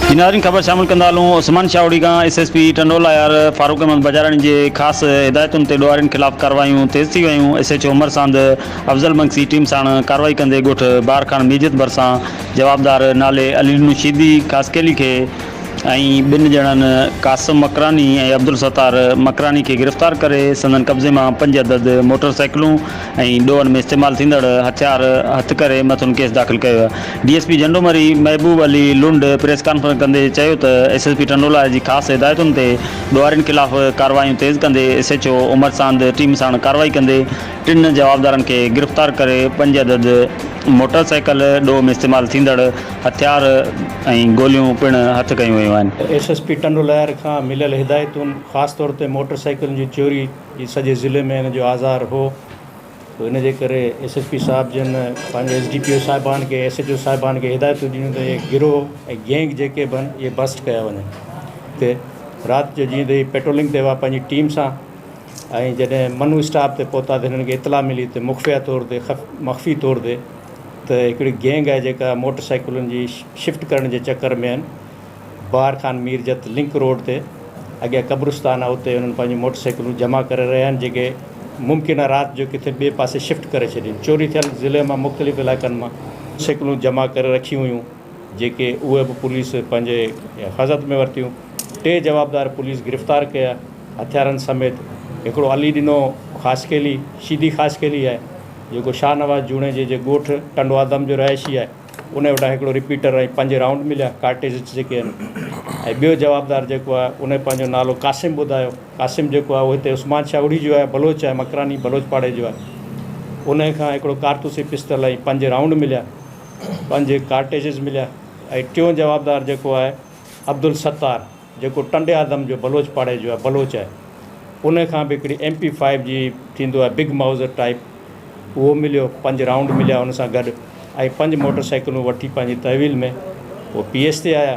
جي ناظرين خبر شامل ڪندا هلون عثمان شاهوڙي کان S S P Tandoallahyar Farooq Ahmed Bijarani جي خاص هدايتن تي ڏوهارين خلاف ڪارروايون تيز ٿي ويون S H O Umar Sand Afzal Bangsi team ساڻ ڪارروائي ڪندي ڳوٺ بار خان ميجت ڀرسان جوابدار نالي علي نوشيدي خاصخيلي کي ۽ ٻن ڄڻن قاسم مڪراني ۽ عبدالستار مڪراني کي گرفتار ڪري سندن قبضي مان پنج عدد موٽرسائيڪلون ۽ ڏوهن ۾ استعمال ٿيندڙ هٿيار هٿ ڪري مٿن ڪيس داخل ڪيو ويا D S P Jhando Mari Mehboob Ali Lund press conference ڪندي چيو ته ايس ايس پي ٽنڊولاء جي خاص هدايتن تي ڏوهارين خلاف ڪارروايون تيز ڪندي S H O Umar Sand team ساڻ ڪارروائي ڪندي ٽن جوابدارن کي گرفتار ڪري پنج عدد موٽر سائيڪل ڏوهه ۾ استعمال ٿيندڙ هٿيار ۽ گوليون پڻ هٿ ڪيون ويون آهن. ايس ايس پي ٽنڊولاء کان مليل هدايتون خاص طور تي موٽر سائيڪلن جي چوري، جي سڄي ضلعي ۾ هن جو آزار هو سو ان جي ڪري ايس ايس پي صاحب جن پنهنجي ايس ڊي پي او صاحبان کي ايس ايچ او صاحبان کي هدايتون ڏنيون ته هي گروهه ۽ گينگ جيڪي به آهن اهي بسٽ ڪيا وڃن هتي رات جو جيئن تي پيٽرولنگ تي هئا پنهنجي ٽيم سان ۽ جڏهن منو اسٽاپ تي پهتا ته هنن کي اطلاع ملي ته مخفيه طور تي خف مخفي طور تي ته هڪڙي گينگ آهي جيڪا موٽر سائيڪلن جي شفٽ ڪرڻ جي چڪر ۾ آهن بهار خان ميرجت لنڪ روڊ تي اڳيان قبرستان آهي اتي انهن پنهنجون موٽر سائيڪلون جمع ڪري رهيا آهن جيڪي ممڪنه رات جو ڪٿي ٻئي پاسي شفٽ ڪري ڇڏين چوري ٿيل ضلعي مان مختلف علائقن مان سائيڪلون جمع ڪري رکيون هيون جيڪي اهي به پوليس پنهنجي حفاظت ۾ ورتيون ٽي جوابدار پوليس گرفتار ڪيا هٿيارن سميت هڪڙو علي ڏنو خاصخيلي شيدي خاصخيلي آهي جيڪو شاهنواز جوڻيجي جي ڳوٺ ٽنڊوآدم جو رهائشي آهي. ان وٽان هڪڙو رپيٽر ۽ پنج رائونڊ مليا، ڪارٽيجز جيڪي آهن، ۽ ٻيو جوابدار جيڪو آهي ان پنهنجو نالو قاسم ٻڌايو، قاسم جيڪو آهي اهو هتي عثمان شاهوڙي جو آهي، بلوچ آهي، مڪراني بلوچ پاڙي جو آهي، ان کان هڪڙو ڪارتوسي پسٽل ۽ پنج رائونڊ مليا، پنج ڪارٽيجز مليا، ۽ ٽيون جوابدار جيڪو آهي عبدالستار. جيڪو ٽنڊي آدم جو بلوچ پاڙي جو آهي بلوچ آهي انهي کان به هڪڙي ايم پي فائيو جي ٿيندو آهي بگ مائوزر ٽائيپ اهو مليو پنج رائونڊ مليا ان سان گڏ ۽ پنج موٽر سائيڪلون وٺي پنهنجي تحويل ۾ هو پي ايس تي آيا.